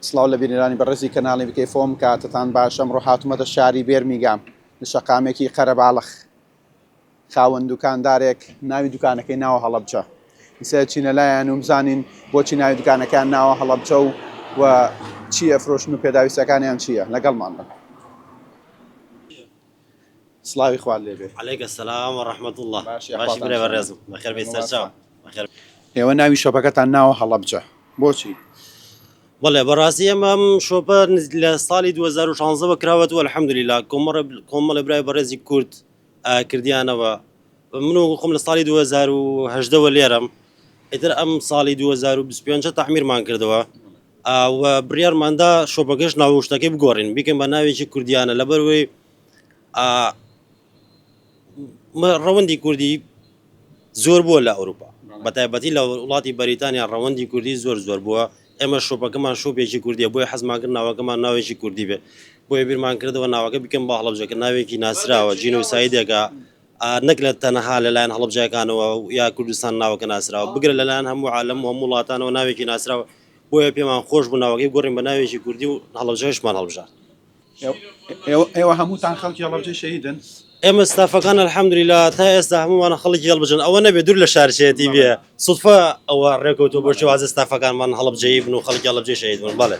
سڵاو لە بینەرانی بەڕێزی کەناڵی بکەی فۆم کاتتان باش ئەمڕۆ هاتومەتە شاری بێرمیگام لە شەقامێکی قەرەباڵخ خاوەن دوکاندارێک ناوی دوکانەکەی ناوە هەڵەبجە ئیسە چینە لایەن و بزانین بۆچی ناوی دوکانەکان ناوە هەڵەبجە و و چییە فرۆشن و پێداویستەکانیان چییە لەگەڵمان بن سڵاوی خوات لێ بێ. علیک السلام و رحمت اللە باشی باشی برای ئەحوالتان چۆنە؟ بەڕێزم بەخێر بێی سەرچاو مبارکتان. بەخێر ئێوە ناوی شۆپەکەتان ناوە هەڵەبجە بۆچی؟ بەڵێ بەڕاستی ئێمە ئەم شۆپە نز- لە ساڵی 2016 وە کراوەتەوە الحمدللە کۆمەڵێ کۆمەڵێ برای بەڕێزی کورد ئا، کردیانەوە من وەکو خۆم لە ساڵی 2018 وە لێرەم ئیتر ئەم ساڵی 2025 تەعمیرمان کردەوە و بڕیارماندا شۆپەکەش ناوشتەکەی بگۆڕین بیکەم بە ناوێکی کوردیانە لەبەروەی ڕەوەندی کوردی زۆر بووە لە ئەوروپا بەتایبەتی لە وڵاتی بەریتانیا ڕەوەندی کوردی زۆر زۆر بووە ئێمە شۆپەکەمان شوپێکی کوردی بۆی حەزمان کرد ناوەکەمان ناوێکی کوردی بێ بۆی بیرمان کردەوە ناوەکە بکەم بە هەڵبژەکە ناوێکی ناسراوە جینۆسایدێکە نەک لە تەنەها لە لایەن هەڵەبجایکانەوە و یا کوردستان ناوەکە ناسراوە، بگرە لە لایەن هەموو عالەم و هەموو وڵاتانەوە ناوێکی ناسراوە، بۆیە پێمان خۆش بوو ناوەکەی بگۆڕین بە ناوێکی کوردی و هەڵەبجەکەشمان هەڵبژارد. ئێوە هەمووتان خەڵکی هەڵەبجەی شەهیدن؟ ئێمە ستافەکان الحمدللە تا ئێستا هەموومان خەڵکی هەڵبجەن، ئەوە نەبێ دوور لە شارچێتی بێ سوتفە ئەوە ڕێکەوتووە بۆ شێوازە ستافەکانمان هەڵەبجەیی بن و خەڵکی هەڵەبجەی شەهید بن، بەڵێ.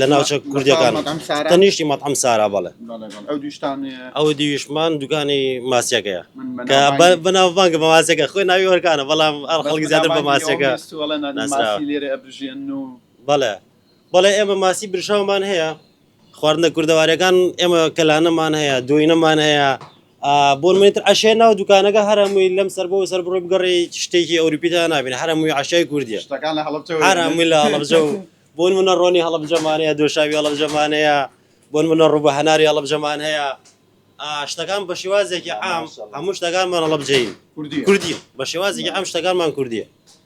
لە ناوچە کوردەکان تەنیشتی مەتعم سارا بەڵێ ئەو دیویشمان دوکانی ماسیەکەیە کە بەناوبانگە بە ماسیەکە خۆی ناوی وەرکانە بەڵام ئەڵ خەڵکی زیاتر بە ماسیەکە بەڵێ بەڵێ ئێمە ماسی برشاومان هەیە خواردنە کوردەوارەکان ئێمە کەلانەمان هەیە دوینەمان هەیە بۆ نمونە تر عەشیای ناو دوکانەکە هەر هەمووی لەم سەر بۆ سەر بڕۆی بگەڕێ شتێکی ئەوروپیدا نابینێ هەر هەمووی عەشیای کوردیە شتەکان لە هەڵەبجە هەر هەمووی لە هەڵەبجە و بۆ نمونە ڕۆنی هەڵەبجەمانەیە دۆشاوی هەڵەبجەمانەیە بۆ نمونە ڕووبە هەناری هەڵەبجەمان هەیە شتەکان بە شێوازێکی عام هەموو شتەکانمان هەڵەبجەین کوردی بە شێوازێکی ئەم شتەکانمان کوردیە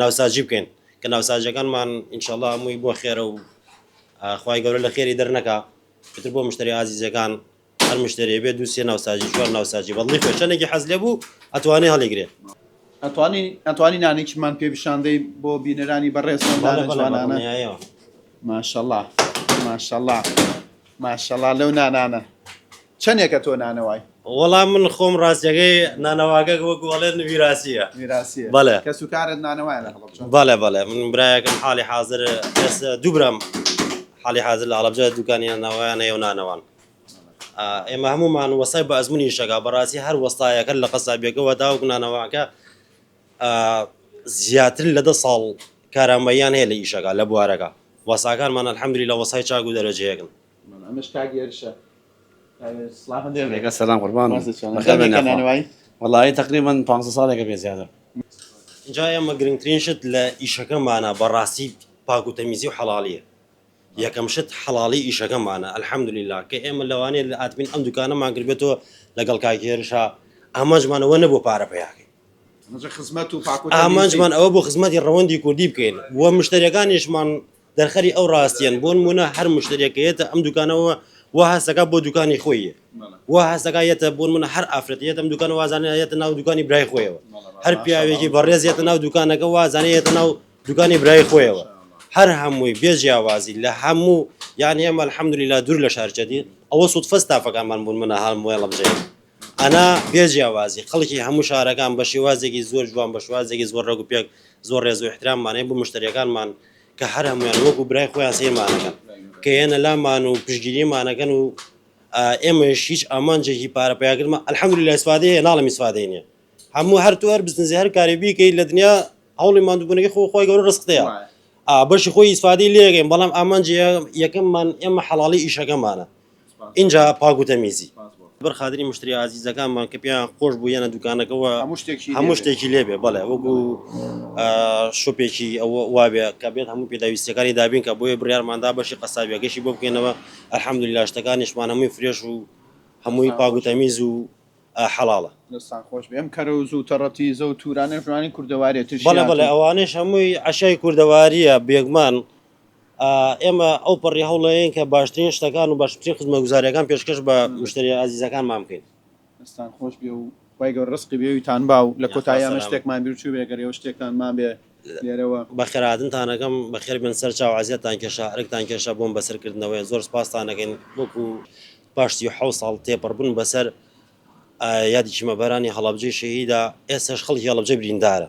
ناوساجی بکەین کە ناوساجەکانمان انشاللە هەمووی بۆ خێرە و خوای گەورە لە خێری دەرنەکا ئیتر بۆ مشتری ئازیزەکان هەر مشتری بێ دوو سێ ناوساجی چوار ناوساجی بەڵی خۆ چەندێکی حەز لێ بوو ئەتوانێ هەڵیگرێ ئەتوانین ئەتوانی نانێکیمان پێ پیشاندەی بۆ بینەرانی بەڕێز بەڵێ بەڵێ بەڵێ جوانانە نایەوە. ماشەڵا ماشەڵا ماشەڵا لەو نانانە چەنێکە تۆ نانەوای. وەڵا من خۆم ڕاستەکەی نانەواگە وەکو ئەڵێن ویراسیە ویراسیە بەڵێ کەس و کارت نانەوایە لە هەڵەبجە بەڵێ بەڵێ من برایەکم حاڵی حازر کەس دوو برام حاڵی حازر لە هەڵەبجە دوکانیان ناوایان هەیە و نانەوان ئێمە هەمومان وەستای بە ئەزمونی شەکا بەڕاستی هەر وەستایەکە لە قەسابیەکەوە تاوەکو نانەواکە زیاتر لە دە ساڵ کارامەییان هەیە لە ئیشەکە لە بوارەکە وەساکانمان الحمدللە وەسای چاک و دەرەجەیەکن. ئینجا ئێمە گرنگترین شت لە ئیشەکەمانە بە ڕاستی پاک و تەمیزی و حەڵاڵیە یەکەم شت حەڵاڵی ئیشەکەمانە الحمدللە کە ئێمە لەوانەیە ئادمین ئەم دوکانەمان کردبێتەوە لەگەڵ کاک هێرشا ئامانجمان ئەوە نەبوو پارە پەیا کەین ئامانجمان ئەوە بۆ خزمەتی ڕەوەندی کوردی بکەین و مشتریەکانیشمان دەرخەری ئەو ڕاستیان بۆن مونە هەر مشتریەکەیەتە ئەم دوکانەوە و هەستەکە بۆ دوکانی خۆی و هەستەکایەتە بۆن منە هەر ئافرەتیت ئەم دوکان وازانەتە ناو دوکانی برای خۆیەوە هەر پیاوێکی بەڕێزیێتە ناو دوکانەکە وازانەتە ناو دوکانی برای خۆیەوە هەر هەمووی بێجیاوازی لە هەموو یان ئێمە الحەمدلی لا دوور لە شارچەدی ئەوە سوود فەستافەکانمان بوون منە هەڵموێڵم جێ ئەنا بێ جیاوازی خەڵکی هەموو شارەکان بە شێوازێکی زۆر جوان بە شوازێکی زۆر ڕێگ و پێک زۆر ڕێز و احتراممانەیە بۆ مشتریەکانمان کە هەر هەمویان وەکو برای خۆیان سەیرمانەکەن کە یەنە لامان و پشگیریمانەکەن و ئێمەش هیچ ئامانجێکی پارە پیاکردمە الحمدلله لە سوادەیە ناڵمی سوادەی نیە هەموو هەر تو هەر بزنزی هەر کاری بیکەی لە دنیا هەوڵی مادوبوونەکەی خۆ خۆی گەورە ڕستەیە بەشی خۆی ئیسفادەی لێگەین بەڵام ئامانجی یەکەممان ئێمە حەڵی ئیشەکەمانە ئینجا پاک و تەمیزی بەر خاتری مشتری ئازیزەکانمان کە پێیان خۆش بوو یەنە دوکانەکەەوە هەموو شتێکی لێبێ بەڵێ وەکو شوپێکی ئەوە وابێ کە بێت هەموو پێداویستەکانی دابین کە بۆیە بڕارماندا بەشی قەسابیەکەشی بۆ بکەینەوە ئەحمد لاشتەکانیشمان هەمووی فرێش و هەمووی پاگوتەمیز و حەڵاڵە دەستان خۆش بێم کەرە و زوو تەڕەتی زە و تورانە ژوانی کوردەوارێتش بەڵێ بەڵێ ئەوانش هەمووی عشای کوردەواریە بێگمان ئێمە ئەوپەڕی هەوڵەیەین کە باشترین شتەکان و باشترین خزمەتگوزاریەکان پێشکەش بە مشتری ئازیزەکانمان بکەین. دەستان خۆش بێ و خوای گەورە ڕزقی بێویتان با و لە کۆتایی ئەمە شتێکمان بیر چووبێ گەر ئێوە شتێکتان مابێ لێرەوە. بەخێرهاتنتان ئەکەم بەخێر بێن سەر چاو عەزیەتتان کێشا ئەرکتان کێشا بۆم بەسەر کردنەوەیە زۆر سوپاستان ئەکەین وەکو پاش سی و حەوت ساڵ تێپەڕ بوون بەسەر یادی چیمەبەرانی هەڵەبجەی شەهیدا ئێستاش خەڵکی هەڵەبجە بریندارە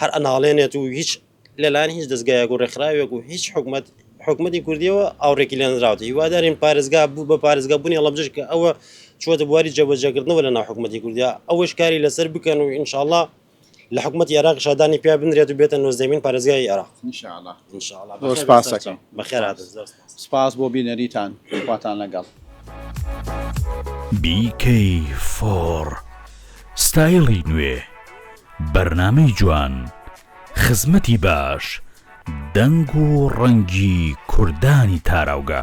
هەر ئەناڵێنێت و هیچ لەلایەن هیچ دەستگایەک و ڕێکخراوێک و هیچ حکومەت حکومەتی کوردیەوە ئاوڕێکی لێنراوە هیوادارین پارێزگا بوو بە پارێزگا بوونی ڵەبجش کە ئەوە چوەتە بواری جێبەجێکردنەوە لە ناو حکومەتی کوردیا ئەوەش کاری لەسەر بکەن و ئینشاءله لە حکومەت عێراق شادانی پیا بنرێت و بێتە نۆزدەمین پارێزگای عێراق بەخێرات سپاس بۆ بینەریتان خواتان لەگەڵ. BK فۆر ستایڵی نوێ بەرنامەی جوان خزمەتی باش دەنگ و ڕەنگی کوردانی تاراوگە.